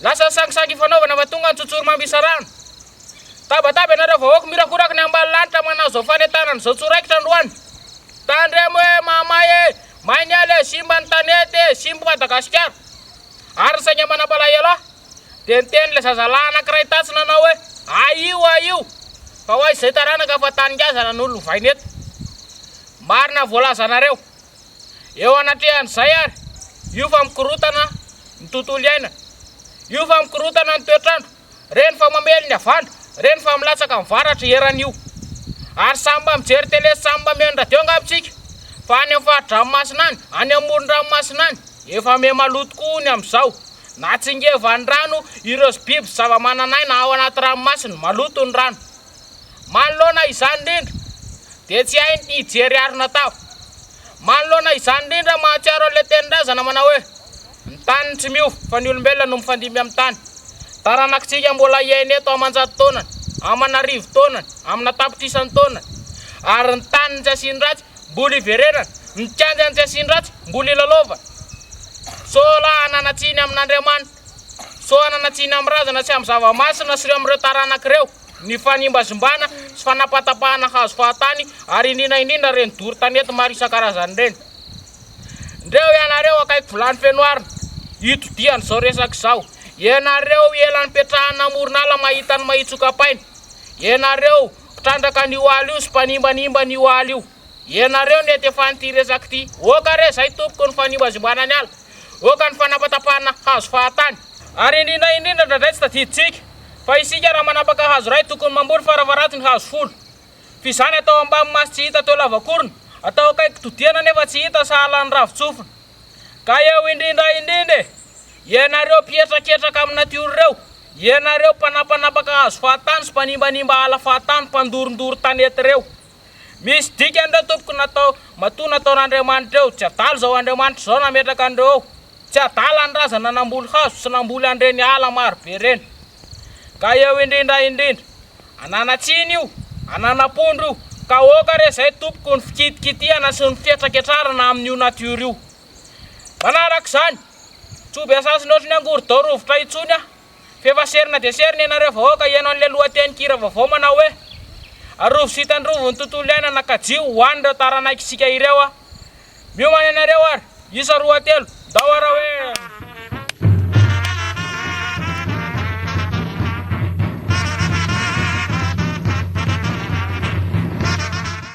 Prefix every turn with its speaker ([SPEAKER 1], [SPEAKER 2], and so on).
[SPEAKER 1] Lasa sangisangy ifanaovana fa tonga ny tsotsory mambisa rano. Tabataba ianareo vahoaka mirakoraky ny ambany lanitra manazo fanentanana izao tsoraikitra androany. Tandremo e mahamay e, may ny ala e, simba ny tanety e, simba i Madagasikara. Ary ny sainga manam-palahelo ahy dia niteny ilay zazalahy anankiray tatsy nanao hoe ahio ahio fa ho aiza izay taranaka fa tany ngazana no lovaina eto. Marina voalazanareo. Eo anatrehan'izay ary, io fa mikorotana ny tontolo iainana, io fa mikorotana ny toetr'andro, reny fa mamely ny havandra, reny fa milatsaka amin'ny varatra eran'io. Ary samy mba mijery tele sy samy mba mihaino radio angamba isika fa any amin'ny fari-dranomasina any, any amin'ny moron-dranomasina any, efa miha maloto tokoa ny amin'izao. Natsingevan'ny rano ireo biby sy zava-manan'aina ao anaty ranomasina, maloto ny rano. Manoloana izany indrindra dia tsy hay ny hijery harona tava. Manoloana izany indrindra mahatsiaro an'ilay tenin-drazana manao hoe, Ny tany no tsy miova fa ny olombelona no mifandimby amin'ny tany. Taranakitsika mbola hiaina eto aman-jato taonany, aman'arivo taonany, amina tapitr'isan'ny taonany. Ary ny tany no tsy asian-dratsy, mbola hiverenana. Ny kianja no tsy asian-dratsy, mbola hilalaovana. Sao lahy hanana tsiny amin'Andriamanitra. Sao hanana tsiny amin'ny razana sy amin'ny zava-masina sy amin'ireo taranaka ireo. ny fanimbazimbana sy fanapatapahana hazo fahatany ary indrindra indrindra ireny doro tanety maro isan-karazany ireny. Ndreo ianareo akaiky vilany feno arina, itodihan' izao resaka izao. Ianareo ela nipetrahana amoron'ala mahita ny mahitsokapaina. Ianareo mpitrandraka ny oaly io sy mpanimbanimba ny oaly io. Ianareo nety efan'ity resaka ity. Oka re zay tompoko ny fanimbazimbana ny ala. Hoaka ny fanapatapahana hazo fahatany. Ary indrindra indrindra indraindray tsy tadidintsika fa isika raha manapaka hazo iray tokony mamboly farafaratiny hazo folo. F'izany atao ambamy maso tsy hita teo lavakorona, atao akaiky todiana nefa tsy hita sahala ny ravin-tsofina. Ka eo indrindra indrindra e! Ianareo mpihetraketraka amin'ny natiora ireo, ianareo mpanapanapaka hazo fahatany sy mpanimbanimba ala fahatany, mpandorondoro tanety ireo. Misy dikany ireo tompoko natao matoa nataon'Andriamanitra eo, tsy adala izao Andriamanitra izao nametraka an'ireo eo, tsy adala ny razana namboly hazo sy namboly an'ireny ala maro be ireny. Ka eo indrindra indrindra, ananatsiny io, ananapondro io, ka aoka re izay tompoko ny fikitikitihana sy ny fihetraketrarana amin'io natiora io. Manaraka izany, tsy ho be sasin'ny ohatry ny angorodao rovitra intsony aho. F'efa serina dia serina ianareo vahoaka hihaino an'ilay lohatenin-kira vaovao manao hoe, Arovy sy tandrovy ny tontolo iainana ka jio ho an'ireo taranaik'isika ireo a! Miomana ianareo ary! Isa roa telo, ndao ara hoe!